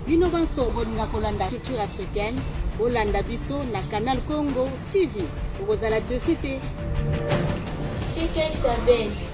bino banso bolinga kolanda culture africaine bolanda biso na canal congo tv okozala dosi te Fiquem sabendo.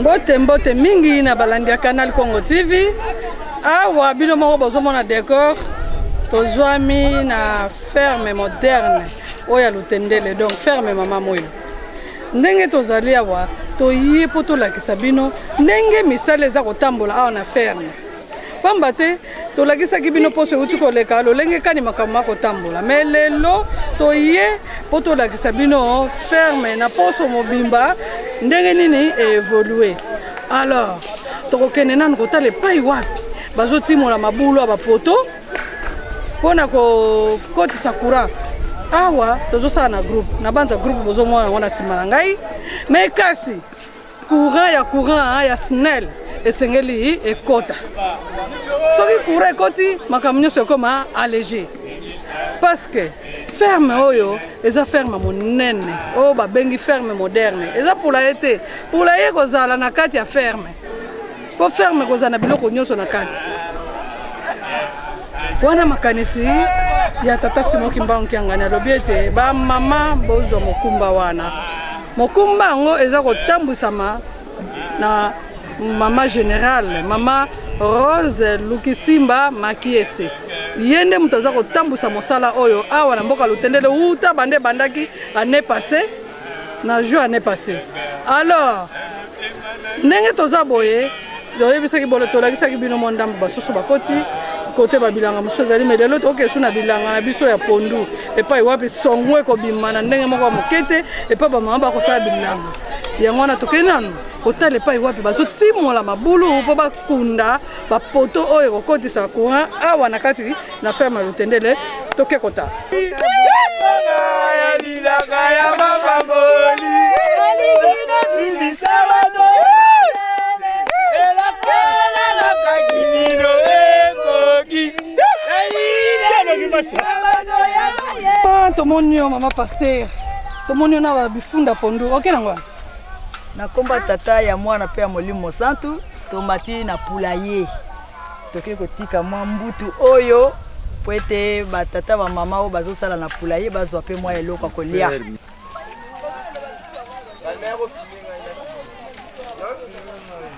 Mbote mbote mingi na balandi ya Canal Congo TV. Awa bino moko bozomona decor tozwami na ferme moderne oyo ya Lutendele, donc ferme mama moyo. Ndenge tozali awa toye mpo tolakisa bino ndenge misala eza kotambola awa na ferme. pamba te tolakisaki bino mposo euti koleka lolenge kani makambo makotambola me lelo toye mpo tolakisa bino ferme na mposo mobimba ndenge nini eevolue alors tokokende nanu kotala epai wapi bazotimola mabulu ya bapoto mpo na kokotisa courant awa tozosala na groupe nabanza groupe bozomona yango na nsima na ngai me kasi courant ya courant ya snel esengeli ekota soki courant ekoti makambo nyonso ekoma allege parce que ferme oyo eza ferme monene oyo babengi ferme moderne eza mpula ye te mpula ye kozala na kati ya ferme mpo ferme kozala na biloko nyonso na kati wana makanisi ya tata Simon Kimbangu Kiangani alobi ete bamama bozwa mokumba wana mokumba yango eza kotambwisama na mama generale mama Rose Lukisimba Makiese ye nde moto aza kotambwisa mosala oyo awa na mboka lutendele wuta bande ebandaki année passé na juin année passé alors ndenge toza boye toyebisaki bolo tolakisaki bino mwa ndambo basusu bakoti kote babilanga mosusu ezali me lelo toke esu na bilanga na biso ya pondu epai wapi songo ekobima na ndenge moko ya moke te epai bamama bakosala bilanga yango wana tokei nanu kotala epai wapi bazotimola mabulu mpo kunda bapoto oyo ekokotisa courant awa na kati na ferme ya lutendele toke kota ah, tomoni yo mama paster tomoni yo na bifunda pondu oke nango Na nkombo ya Tata, ya Mwana mpe ya Molimo Mosantu, tomati na pulaye. Tokoki kotika mwa mbutu oyo mpo ete batata bamama oyo bazosala na pulaye bazwa mpe mwa eloko ya kolia.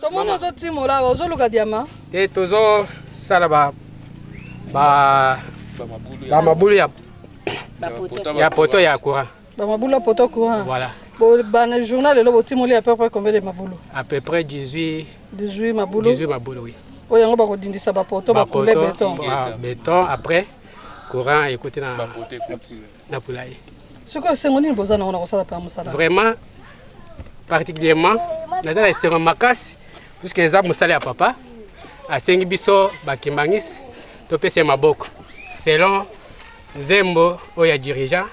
tomoni ozotimola awa ozoluka diama te tozosala ba ba bamabulu ya ya poto ya courant bamabulu ya poto courant voilà bana journal lelo botimoli à peu près combien de mabulu à peu près 18 18 mabulu 18 mabulu oui oyo yango bakodindisa bapoto bakoule beton ah, beton après courant ekoti na bapoto ekoti na pula ye soki esengo nini boza nango na kosala mpe mosala vraiment particulièrement naza na esengo makasi puisque eza mosala ya papa asengi biso bakimangisi topesa ye maboko selon nzembo oyo ya dirigeant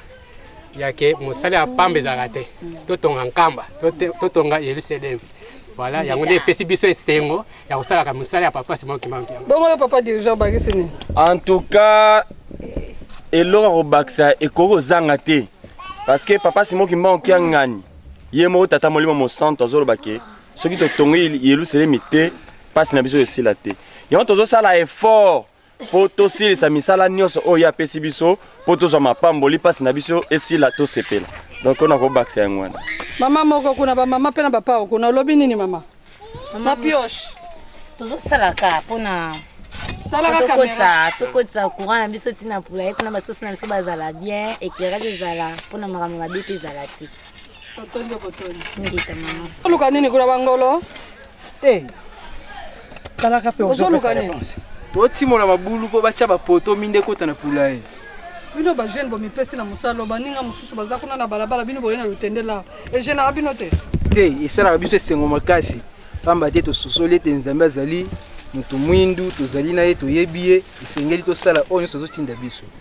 yake mosala ya pamba ezalaka te totonga nkamba totonga yelusalemi Voilà, yango nde epesi biso esengo ya kosalaka mosala ya papa Simon Kimbangu. Bongo yo papa dirigeant obakisi nini? En tout cas eloko akobakisa ekoki kozanga te parce que papa Simon Kimbangu Kiangani ye moko tata molimo mosanto azoloba ke soki totongi Yelusalemi te mpasi na biso esila te yango tozosala effort mpo tosilisa misala nyonso oyo ye apesi biso mpo tozwa mapamboli mpasi na biso esila tosepela donc ona kobakisa yango wana mama moko kuna bamama mpe na bapao kuna olobi nini mama na pioche tozosalaka mpona tokotisa courant na biso ntina mpula ye kuna basusu na biso bazala bien éclairage ezala mpona makambo mabe mpe ezala te Botondi botondi. Ngita mama. Oluka nini kuna bangolo? Eh. Tala kape ozoluka nini? Botimona mabulu mpo batya bapoto minde kota na pula ye. bino bajeune bomipesi na mosala baninga mosusu baza kuna na balabala bino boye na lotendela egenaka bino te te esalaka biso esengo makasi mpamba te tososoli ete nzambe azali moto mwindu tozali na ye toyebi ye esengeli tosala oyo nyonso azotinda biso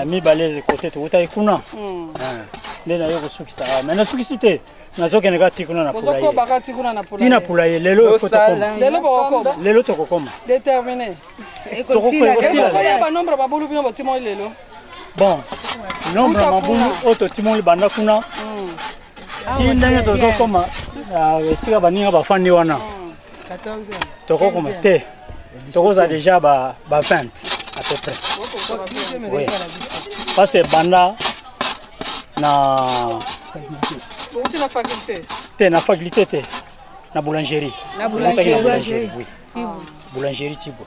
Eh, mibale eze kote tokutaki kuna hmm. eh, nde naye kosukisa awa me nasukisi te nazokende kati kuna na pulayetina pulaye lelo lelo tokokoma bon nombre ya mabulu oyo totimoli banda kuna hmm. ti ndenge tozokoma ah, esika baninga bafandi wana hmm. tokokoma te tokozala deja ba 20 à peu près oui. parce que banda na te na faculté te na boulangerie boulangerie tibo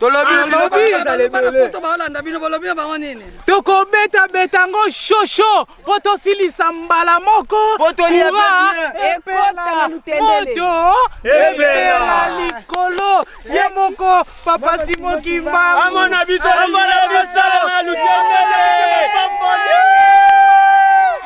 tolobi ah, bino bazala ebele baolanda bino bolobi na bango nini tokobeta beta yango shosho mpo tosilisa mbala moko ura epela moto epela likolo ye moko papa simokimba amona biso amona biso na lutendele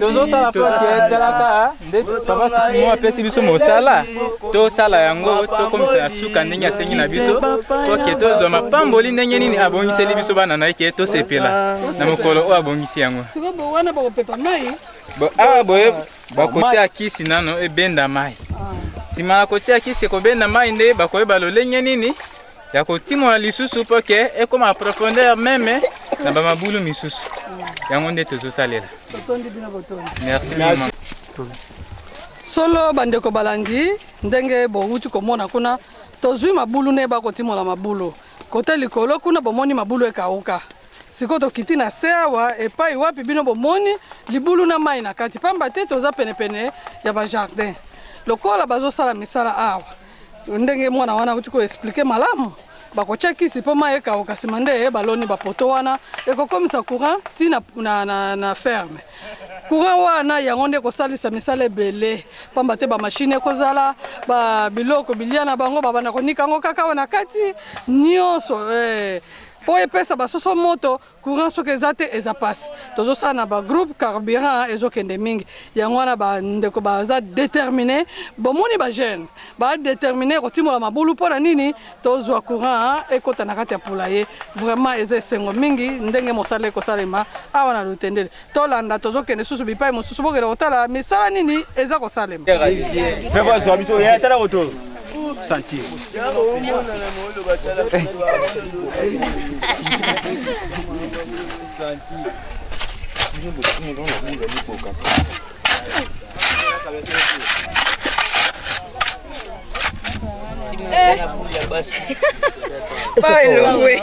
tozosala foti etalaka nde papa sikimo apesi biso mosala tosala yango tokomisa ya suka ndenge asengi na biso toke tozwa mapamboli ndenge nini abongiseli biso bana na ye ke tosepela na mokolo oyo abongisi yango awa boye bakotia kisi nano ebenda mai nsima na kotia kisi ekobenda mai nde bakoyeba lolenge nini ya kotimola lisusu mpo ke ekoma profondeur meme na bamabulu misusu yango nde tozosalela merci solo bandeko balandi ndenge bowuti komona kuna tozwi mabulu ne bakotimola mabulu kote likolo kuna bomoni mabulu ekauka sikoyo tokiti na se awa epai wapi bino bomoni libulu na mai na kati mpamba te toza penepene ya bajardin lokola bazosala misala awa ndenge mwana wana auti koexplike malamu bakotya kisi mpo mai ekauka nsima nde baloni bapoto wana ekokomisa courant ti na, na, na, na ferme courant wana yango nde ekosalisa misala ebele mpamba te bamashine ekozala ba biloko bilia na bango babanda konika yango kaka awa na kati nyonso eh. mpo epesa basoso moto courant soki eza te eza mpasi tozosala na bagroupe carburant ezokende mingi yango wana bandeko baza détermine bomoni bajeune badétermine kotimola mabulu mpo na nini tozwa courant ekota na kati ya poulaye vraiment eza esengo mingi ndenge mosala ekosalema awa na lotendele tolanda tozokende lisusu bipai mosusu bokende kotala misala nini eza kosalema santi elongwe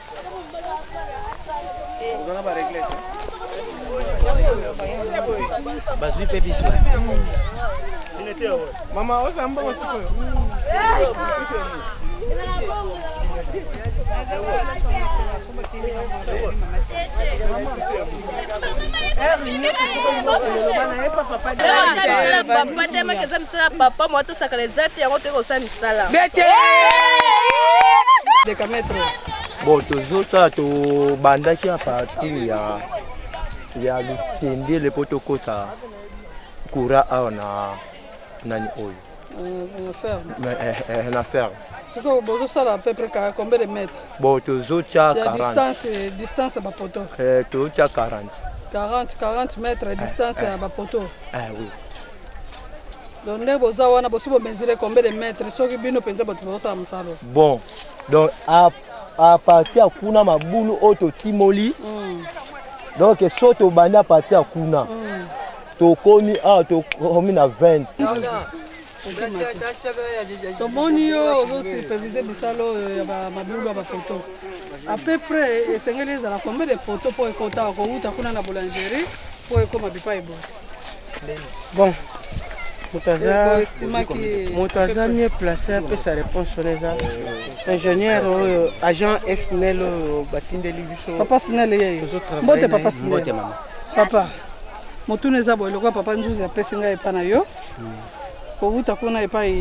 bazwi mpe biso mama oza mbongo sikoyo papa te maki eza misala papa moatosakala eza te yango toyekosala sala bete de kametro bon tozosala tobandaki a partir ya ya lutendele mpo tokota kura awa na nani oyo na ferme sikoyo bozosala pepre combien de mètre bon tozotya distance ya bapoto tozotya 40 40 40 mètre distance ya bapoto oui donc nde boza wana bosi bomesure combien de mètre soki bino mpenza bato bozosala mosala bon donc aparti ya kuna mabulu oyo totimoli mm. donc so tobandi aparti ya kuna mm. tokomi awa tokomi na 20 tomoni yo ozosupevise misala oyo ya mabulu ya bafoto à peu près esengeli ezala combien de foto mpo ekota kowuta kuna na boulangerie mpo ekoma bipai boye bon moto aza moto aza mieux place apesa réponse wana eza ingénieur oyo agent snel oyo batindeli biso papa snel yeyo mbote papa snel papa motuna eza boye lokola papa nzuzi apesi ngai epa na yo kowuta kuna epai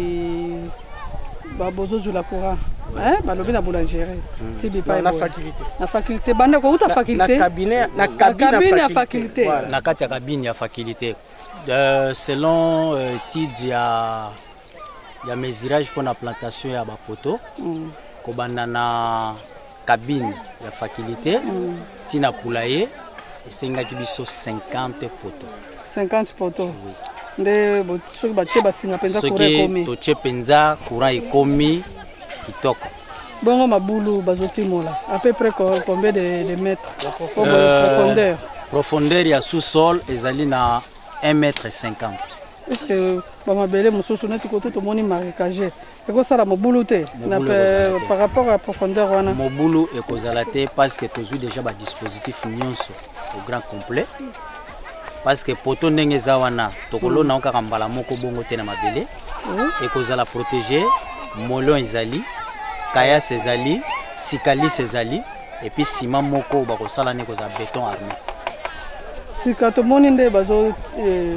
babozozula courant eh, balobi na boulangerie hmm. ti bipai na faculté na faculté banda kowuta faculté na cabinet na cabine ya faculté na kati ya cabine ya faculté euh, selon euh, étude ya ya mesurage mpo na plantation ya bapoto mm. kobanda na cabine ya faculté ti na poulailler esengaki biso 50 poto 50 poto nde bo- soki batie basinga mpenza kura soki ekomi totie mpenza courant ekomi kitoko bongo mabulu bazotimola à peu près co- combien de, de mètres Au moins, Euh, profondeur profondeur ya sous-sol ezali na 1 mètre 50 est ce que bamabele mosusu neti koto tomoni marécage ekosala mobulu te na par rapport ya profondeur wana mobulu ekozala te parce que tozwi déjà ba dispositif nyonso au grand complet parce que poto ndenge eza wana tokolona yango kaka mbala moko bongo te na mabele hmm. ekozala protégé molon ezali kayas ezali sikalis ezali epuis sima moko bakosala nde ekozala beton armé sika tomoni nde bazo eh,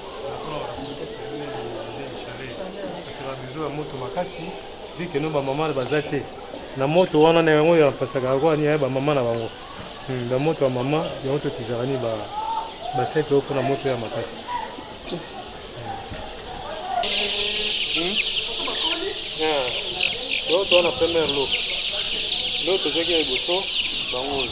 na moto wana na yango ya pasaka yango ania ba mama na bango hmm, ba moto ya mama yango totizaka ni ba ba sete oyo mpona moto ya makasi yango toza na première lo lo tozwaki ya liboso bango oyo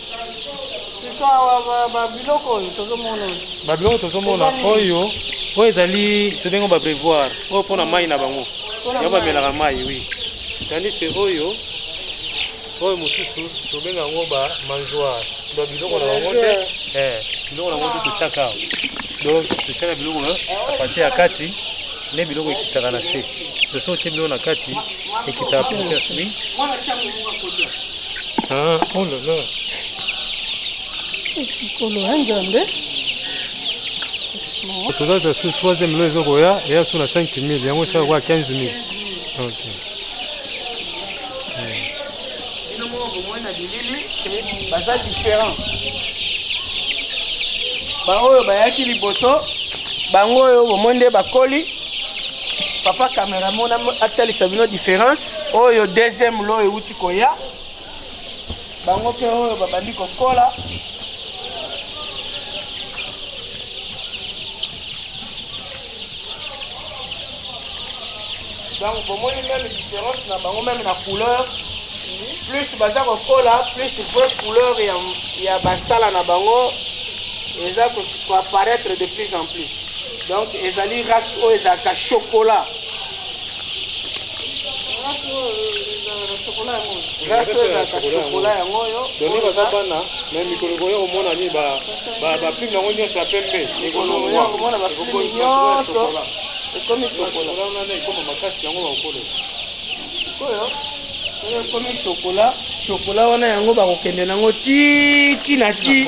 babiloko tozomona oyo oyo ezali tobengo babrevoir oyo mpona mai na bango yango bamelaka mai wi tandise oyo oyo mosusu tobenga yango ba mangeoire donc biloko na bango nde eh, biloko na bango nde totyaka awa donc totyaka biloko na pati ya kati nde biloko ekitaka na se to soki otye biloko na kati ekitaka pati ya sui Ah, oh là là. Mikolo ya Nzambe. Tozaza sur troisième lo ezokoya eya sur na 5000 yango esala kwa 15000. Ok. Bino moko bomona bilili baza différent. Baoyo bayaki liboso bango oyo bomoni nde bakoli papa cameraman atalisa bino différence oyo deuxième lo euti koya bango mpe oyo babandi kokola donc bomoni meme différence na bango meme na couleur plus baza kokola plus vrai couleur ya, ya basala na bango eza koapparaître de plus en plus donc ezali race oyo ezalaka chocolat glace oyo ezalaka shokola yango oyo doni baza bana me mikolo ekoya komona nini baprime yango nyonso ya pembe ekolongwa komona baprime nyonso ekomi shokola wana ekoma makasi yango bakokolela sikoyo soki ekomi shokola shokola wana yango bakokende nango ti ti na ti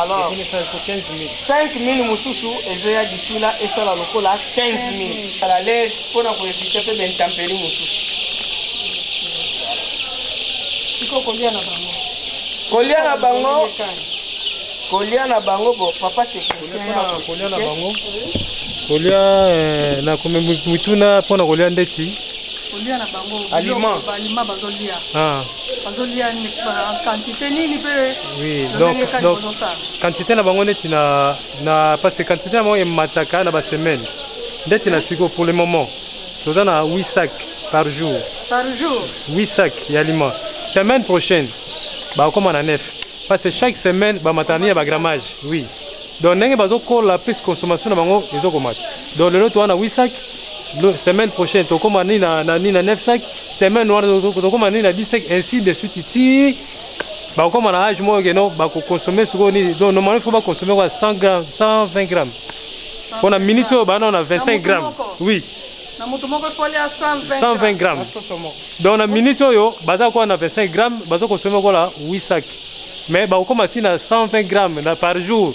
alors 5000 mosusu ezoya disila esala lokola 15000 ala lege mpo na koevite mpe baintemperi mosusu sikoyo kolia na bango kolia na bango kolia na bango bo papa technicien kolia na bango kolia eh, na mituna mpo na kolia ndeti aliment bazolia quantité nini mpe lolenge kani bozosala quantité na bango neti na na parce que quantité na bango emataka na basemaine ndeti na siko pour le moment toza na 8 sac par jour par jour 8 sac ya aliment semaine prochaine bakokoma na 9 parce que chaque semaine bamatani ya bagrammage oui donc ndenge bazokola plus consommation na bango ezokomata donc lelo toza na 8 sac semaine prochaine tokoma nini na, na, na 9 sac semaine wana tokoma nini na 10 sac ainsi de suite ti bakokoma na age moko keno bakokonsome sikoyo nini donc normalement faut bakonsome kwa 100 gramme 120 gramme mpo na minute oyo bana na 25 gramme oui na moto moko efoli ya 120 gramme donc na minute oyo baza kokola na 25 gramme baza konsome kola 8 sac mais bakokoma ntina 120 gramme na par jour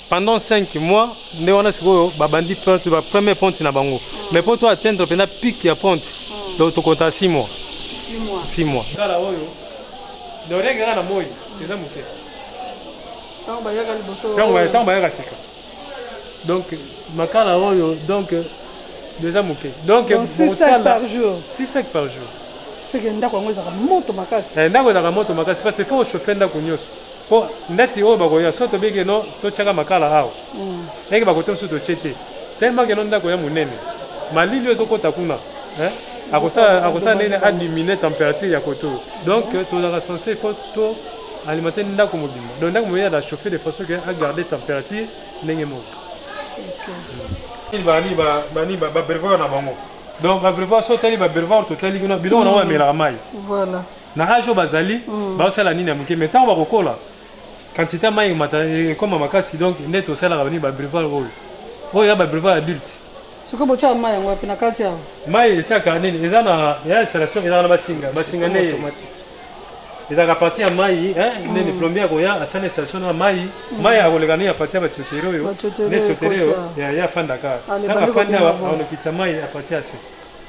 pendant 5 mois nde wana sikoyo babandi pente ba premier pente na bango mais mpo to atteindre mpenza pic ya pente donc tokonta 6 mois 6 mois kala oyo donc rien kaka na moi eza moke ntango bayaka sika donc makala oyo donc eza moke donc 6 sacs par jour 6 sacs par jour seke ndako yango ezalaka moto makasi eh, ndako ezalaka moto makasi parce que faut chauffer ndako nyonso Po ndati oyo bakoya soki tobi ke no totiaka makala awa eke bakote mosusu totie te tellement ke no ndako ya monene malili oyo ezokota kuna eh? akosala akosala ndenge nini adimine temperature ya koto donc tozalaka sense fo to alimenter ndako mobimba donc ndako mobimba na chauffe de façon que agarde temperature ndenge moko bani bani babrevoir na bango donc babrevoir so otali babrevoir totali kuna biloko nango bamelaka mai na age oyo bazali mm. baosala nini ya moke mai ntango bakokola quantité mai ekomata ekoma makasi donc nde tosalaka bani babreval oyo oyo ya babreval adulte soki botyaka mai yango wapi na kati awa mai etyaka nini eza na ya installation ezaka na basinga basinga nde ezalaka parti ya mai nini mm. plombier akoya asala installation na mai mm. mai akoleka nini aparti ya bacotere oyo nde cotere oyo ya afandaka ntango afandi awa akolokita mai aparti ya se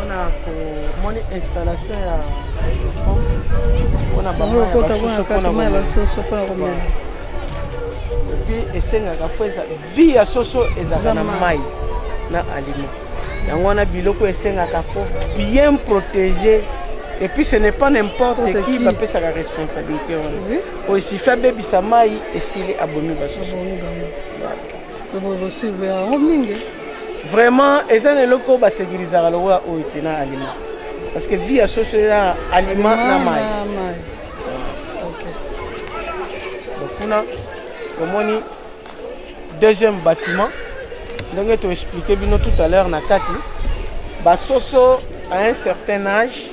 mpona komoni installation ya mpona bamaya basusu mpona komela epi esengaka mpo eza vi ya soso ezalaka na mai na alima yango wana biloko esengaka fo bien protégé et puis ce n'est pas n'importe qui bapesaka responsabilité wana oyo esifi abebisa mai esili abomi basusu vraiment eza na eloko oyo basekirizaka lokola oyo te na alima parce que vie ya soso eza alima na mai kuna omoni deuxième bâtiment ndenge toexplike bino tout à l'heure na kati basoso à un certain âge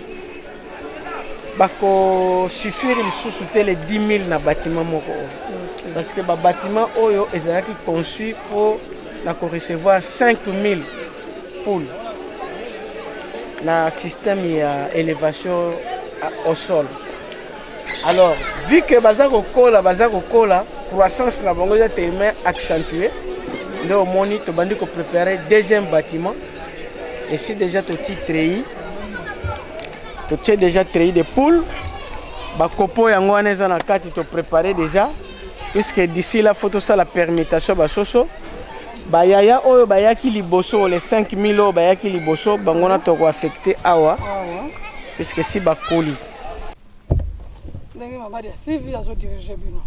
bakosuffire lisusu te le 10 000 na bâtiment moko oyo parce que babâtiment oyo ezalaki conçu mpo na ko recevoir 5000 poules na système ya élévation au sol alors vu que baza kokola baza kokola croissance na bango eza tellement accentuée nde omoni tobandi koprépare deuxième bâtiment esi déjà toti treyi totie déjà treyi de poule bakopo yango wana eza na kati toprépare déjà puisque d'ici là faut tosala permutation basoso bayaya oyo bayaki liboso le 5000 oyo bayaki liboso bango na toko affecte awa puisque si bakoli ndenge mabadi ya sivi azodirige bino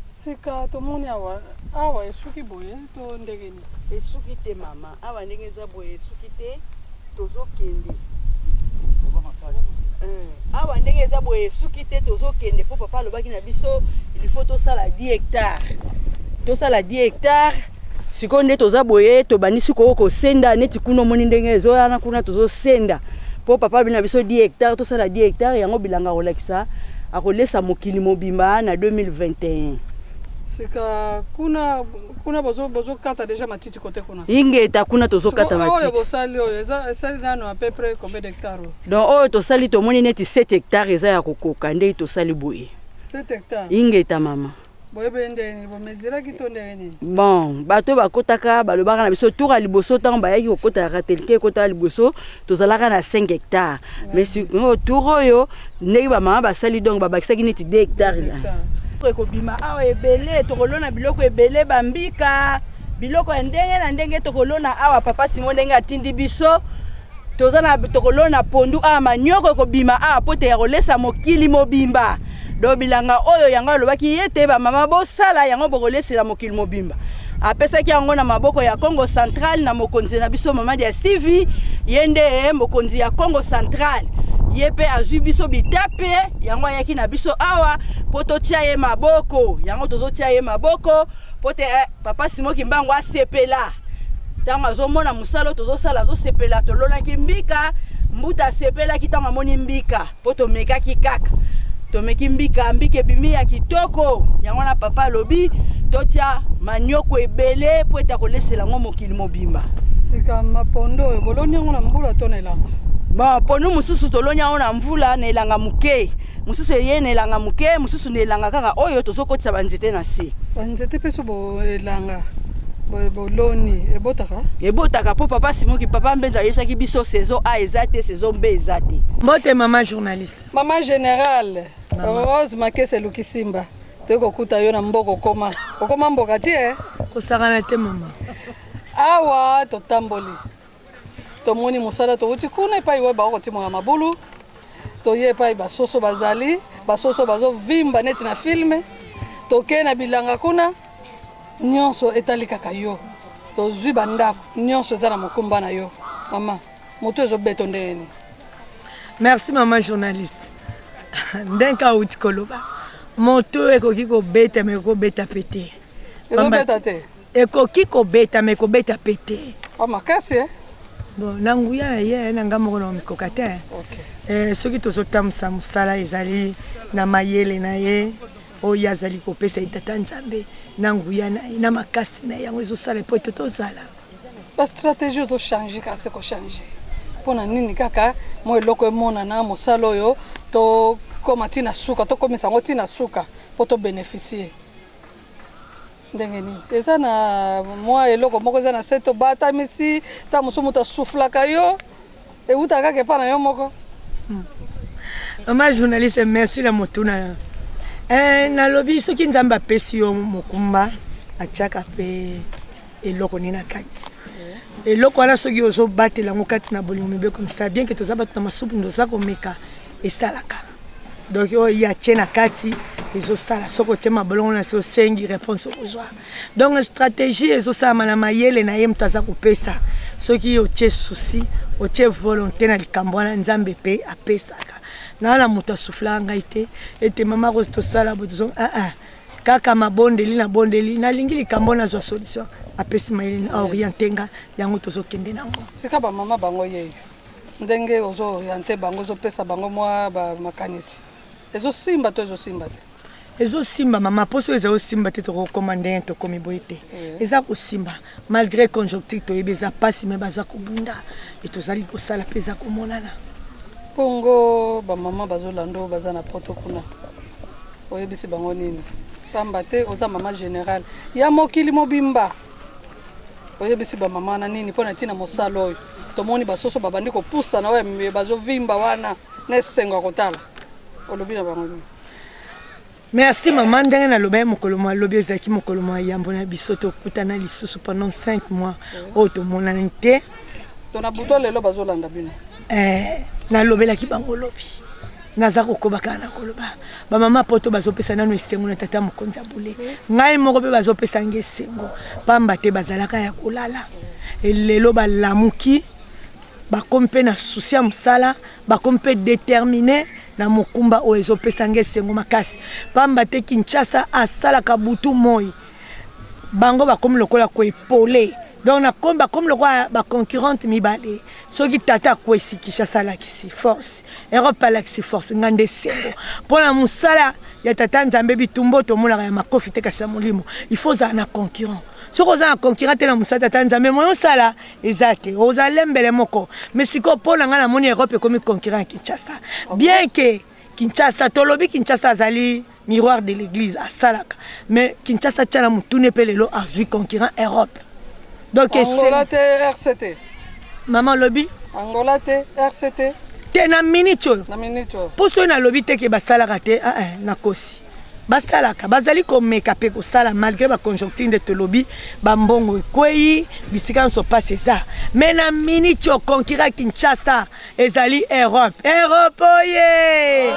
sika tomoni awa awa esuki boye to ndenge nini esuki te mama awa ndenge eza boye esuki te tozokende eh, awa ndenge eza boye esuki te tozokende mpo papa alobaki na biso ilfaut tosala 10 hectare tosala 10 hectare sikoyo nde toza boye tobandisi koo kosenda neti kuna omoni ndenge ezoyana kuna tozosenda mpo papa alobi na biso 10 hectare tosala 10 hectare yango bilanga akolakisa akolesa mokili mobimba na 2021 sika kuna kuna bozo bozo kata deja matiti kote kuna ingeta kuna tozo kata matiti oyo bosali oyo eza esali nano à peu près combien d'hectares donc oyo tosali tomoni neti 7 hectares eza ya kokoka ndei tosali boye 7 hectares ingeta mama bon bato bakotaka balobaka na biso tour ya liboso ntango bayaki kokota ya ratelke ekotaka liboso tozalaka na 5 hectare mais sikoyo tour oyo ndenge bamama basali donc babakisaki neti 2 hectare ekobima awa ebele tokolona biloko ebele bambika biloko ya ndenge na ndenge tokolona awa papa simo ndenge atindi biso toza na tokolona pondu awa manioko ekobima awa mpo te ya kolesa mokili mobimba do bilanga oyo yango alobaki ye te bamama bosala yango bokolesela mokili mobimba apesaki yango na maboko ya Congo Central na mokonzi na biso Mamadi ya Sivi, ye nde mokonzi ya Congo Central ye mpe azwi biso bitape yango ayaki na biso awa mpo totia ye maboko yango tozotia ye maboko mpo te eh, papa simo kimbangu asepela ntango azomona mosala oyo tozosala azosepela tolonaki mbika mbuta asepelaki ntango amoni mbika mpo tomekaki kaka tomeki mbika mbika ebimi ya kitoko yango wana papa alobi totya manioko ebele mpo ete akolesela yango mokili mobimba sika mapondo oyo boloni yango na mbula to na elanga mapondo mosusu toloni yango na mvula na elanga moke mosusu eye na elanga moke mosusu na elanga kaka oyo tozokotisa banzete na se banzete mpe so elanga boye boloni ebotaka ebotaka mpo papa simoki papa mbenza ayebisaki biso saison a eza te saison b eza te mbote mama journaliste mama générale rose makesi eluki simba toyei kokuta yo na mboka okoma okoma mboka ti e kosakana te mama awa totamboli tomoni mosala towuti kuna epai oyo bakokotimola mabulu toye epai basoso bazali basoso bazovimba neti na filme tokei na bilanga kuna nyonso etali kaka yo tozwi bandako nyonso eza na mokumba na yo mama moto ezobeto ndenge nini merci mama journaliste ndenge auti koloba moto ekoki kobeta me ekobeta mpe te ekoki kobeta me kobeta mpe te ah, makasi eh? bon na nguya na ye na ngai moko na omikoka te eh, soki tozotambwisa mosala ezali na mayele na ye oyo azali kopesa ye tata nzambe na nguya na ye na makasi na ye yango ezosala mpo ete tozala bastratégie ozochange kasi kochange mpo na nini kaka mwa eloko emonana mosala oyo tokoma ntina suka tokomisa yango ntina suka mpo tobeneficie ndenge nini eza na mwa eloko moko eza na se tobatamisi ta mosusu moto asuflaka yo ewutaka kaka epa na yo moko hmm. mama journaliste merci na motuna na eh, nalobi soki nzambe apesi yo mokumba atyaka mpe eloko nini na kati eloko wana soki ozobatela yango kati na bolingo mibeko misala bien ke toza bato na masupu ndoza komeka esalaka donc oyo ye atie na kati ezosala soki otie mabolongo na se osengi réponse okozwa donc stratégie ezosalama na mayele na ye moto aza kopesa soki otie souci otie volonté na likambo wana nzambe mpe apesaka naa na moto asuflaka ngai te ete mama rose tosala bo tozo aa ah, ah. kaka mabondeli na bondeli nalingi likambo nazwa solution apesi mayele na oriente nga yango tozokende nango sika bamama bango yeyo ndenge ozo oriente bango ozopesa bango mwa makanisi ezosimba to ezosimba te ezosimba mama mposo eza osimba te tokokoma ndenge tokomi boye te eh. eza kosimba malgré conjoncture toyebi eza mpasi me baza kobunda e tozali kosala mpe eza komonana mpongo bamama bazolanda oyo baza na poto kuna oyebisi bango nini pamba te oza mama général ya mokili mobimba oyebisi bamama wana nini mpo na ntina mosala oyo tomoni basoso babandi kopusana oyo bazovimba wana na esengo ya kotala olobi na bango nini merci mama ndenge naloba ye mokolo mwa lobi ezalaki mokolo mwa yambo na biso tokutana lisusu pendant 5 mois oyo tomonani te to na buto lelo bazolanda bino eh, nalobelaki bango lobi naza kokoba kaka na koloba bamama poto bazopesa nano esengo na tata mokonzi ya bule ngai moko mpe bazopesa nge esengo mpamba te bazalaka ya kolala elelo balamuki bakomi mpe na susi ya mosala bakomi mpe determine na mokumba oyo ezopesa nge esengo makasi mpamba te kinshasa asalaka butu moi bango bakomi lokola koepole donc na komi bakomi lokola baconcurrente mibale soki tata akwesi kinshasa alakisi force europe alakisi force nga nde esengo mpo na mosala ya tata nzambe bitumbo tomonaka ya makofi te kasi ya molimo il faut ozala na concurrent soki oza na concurrent te na mosala tata nzambe moye osala eza te oza lembele moko mais sikoyo mpo na ngai namoni europe ekomi concurrent ya kinshasa bien ke kinshasa tolobi kinshasa azali miroir de l'église asalaka mais kinshasa tiana motune mpe lelo azwi concurrent europe donc angola te rct mama alobi angola te rct te na minute oyo mpo soki nalobi te ke basalaka te ah, eh, nakosi basalaka bazali komeka mpe kosala malgré baconjoncture nde tolobi bambongo ekwei bisika nyonso mpasi eza mai na minute okonkira kinshasa ezali Europe. Europe oye!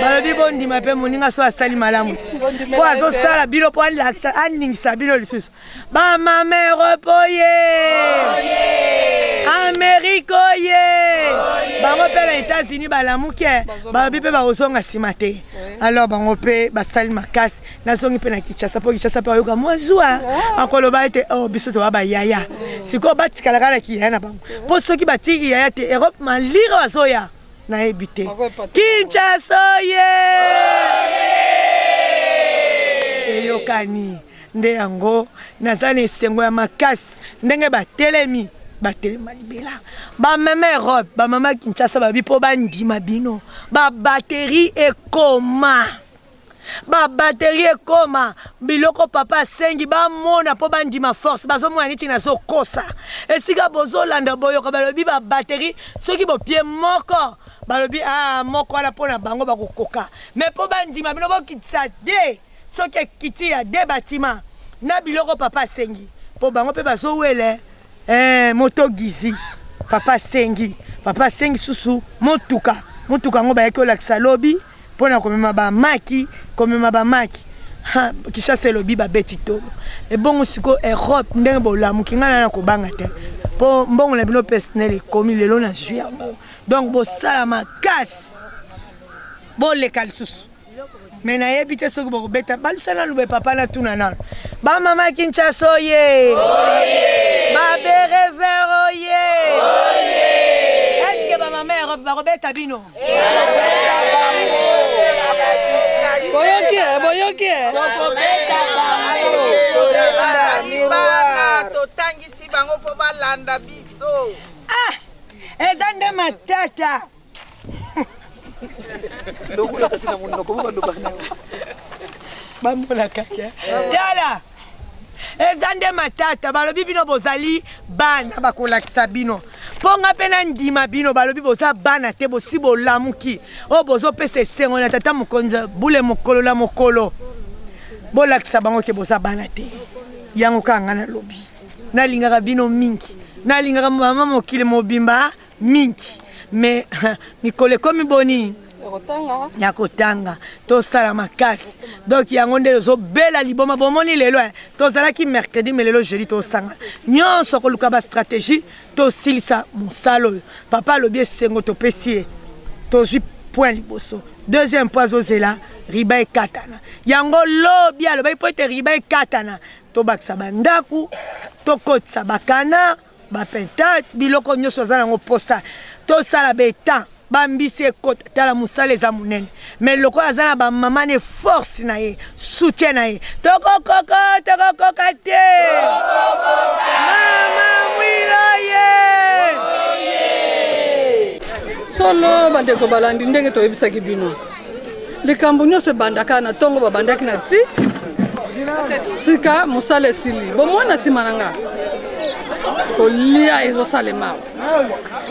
Balobi bondima mpe moninga so asali malamu ti mpo azosala bino mpo alakisa aningisa bino lisusu bamama Europe oye! Amerika oye! Bango mpe na Etats-Unis balamuke balobi mpe bakozonga nsima te. Alors bango mpe basali makasi nazongi mpe na kinshasa mpo kinshasa mpe bayoka mwa zuwa ah. akoloba ete o oh, biso toba bayaya sikoyo batikalaka na kiyaya na bango mpo soki batiki kiyaya te europe malire bazoya nayebi te kinshasa ye eyokani nde yango naza na esengo ya makasi ndenge batelemi batelema libela bamama europe bamama kinshasa babi mpo bandima bino babateri ekoma ba batterie ekoma biloko papa asengi bamona mpo bandima force bazomona neti nazokosa esika bozolanda boyoka balobi ba batterie soki bopie moko balobi a ah, moko wana mpo na bango bakokoka me mpo bandima bino bokitisa de soki ekiti ya de batima na biloko papa asengi mpo bango mpe bazowele Eh, moto gizi papa asengi papa asengi susu motuka motuka yango bayaki olakisa lobi mpo na komema bamaki komema bamaki kishasa elobi babeti tolo ebongo sikoyo europe ndenge bolamuki ngai nana kobanga te mpo mbongo na bino personnel ekomi lelo na zwi yango donc bosala makasi boleka lisusu me nayebi te soki bokobeta balusa na lube papa na tuna nano bamama kinshasa oye baberever oye eske bamama europe bakobeta bino boyoki eh, boyoki eh. totangisi bango mpo balanda biso ah, eza nde matata lokola kasi na monoko moko aloba na bamona kaka tala eza nde matata balobi bino bozali bana bakolakisa bino mpo nga mpe nandima bino balobi boza bana te bosi bolamuki oyo bozopesa esengo na tata mokonzi bule mokolo na mokolo bolakisa bango te boza bana te yango kaka nga nalobi nalingaka bino mingi nalingaka mama mokili mobimba mingi mais mikolo ekomi boni ya kotanga tosala makasi donk yango nde tozobela liboma bomoni lelo eh, tozalaki mercredi me lelo jeudi tosanga nyonso koluka bastratégie tosilisa mosala oyo papa alobi esengo topesi ye tozwi point liboso deuxième point azozela riba ekatana yango lobi alobaki mpo ete riba ekatana tobakisa bandako tokotisa bakanard bapentate biloko nyonso aza nango mposa tosala betan bambisi ekota tala mosala eza monene mai lokola aza na bamama ne force na ye soutien na ye tokokoko tokokoka te mama mwilo ye solo bandeko balandi ndenge toyebisaki bino likambo nyonso ebandaka na ntongo babandaki na ti sika mosala esili bomona nsima na nga kolia ezosalema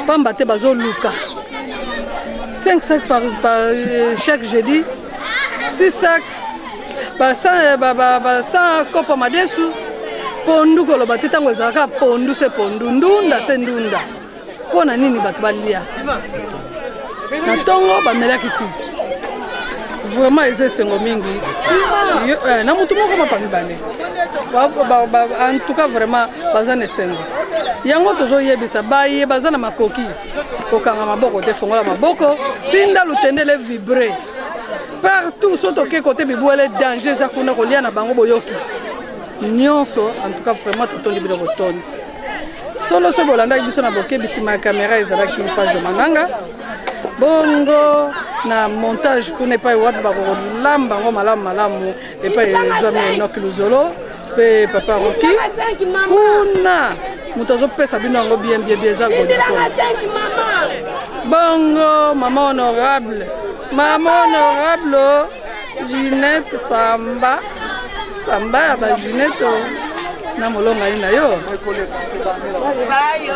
mpamba te bazoluka 5 sac par, par euh, chaque jeudi 6 sac ba 100 euh, ba, ba, ba 100 kopo madesu pondu koloba te ntango ezalaka pondu se pondu ndunda se ndunda Mpo na nini bato balia na ntongo bamelaki ti vraiment eza esengo mingi eh, na motu moko mapa mibale en tout cas vraiment baza na esengo yango tozoyebisa baye baza na makoki kokanga maboko te fongola maboko tinda lutendele vibre partout so toke kote bibwele danger eza kuna kolia na bango boyoki nyonso en tout cas vraiment totondi bino botondi solo so bolandaki biso na bokebi nsima ya kamera ezalaki page mananga bongo na montage kuna epai wapi bakolamba yango malamu malamu epai ezwami enoki luzolo mpe papa roki kuna moto azopesa bino yango bien bien bien eza godikona bongo mama honorable mama honorable Ginette samba samba ya ba Ginette oh. na molongani na yo. Bayo.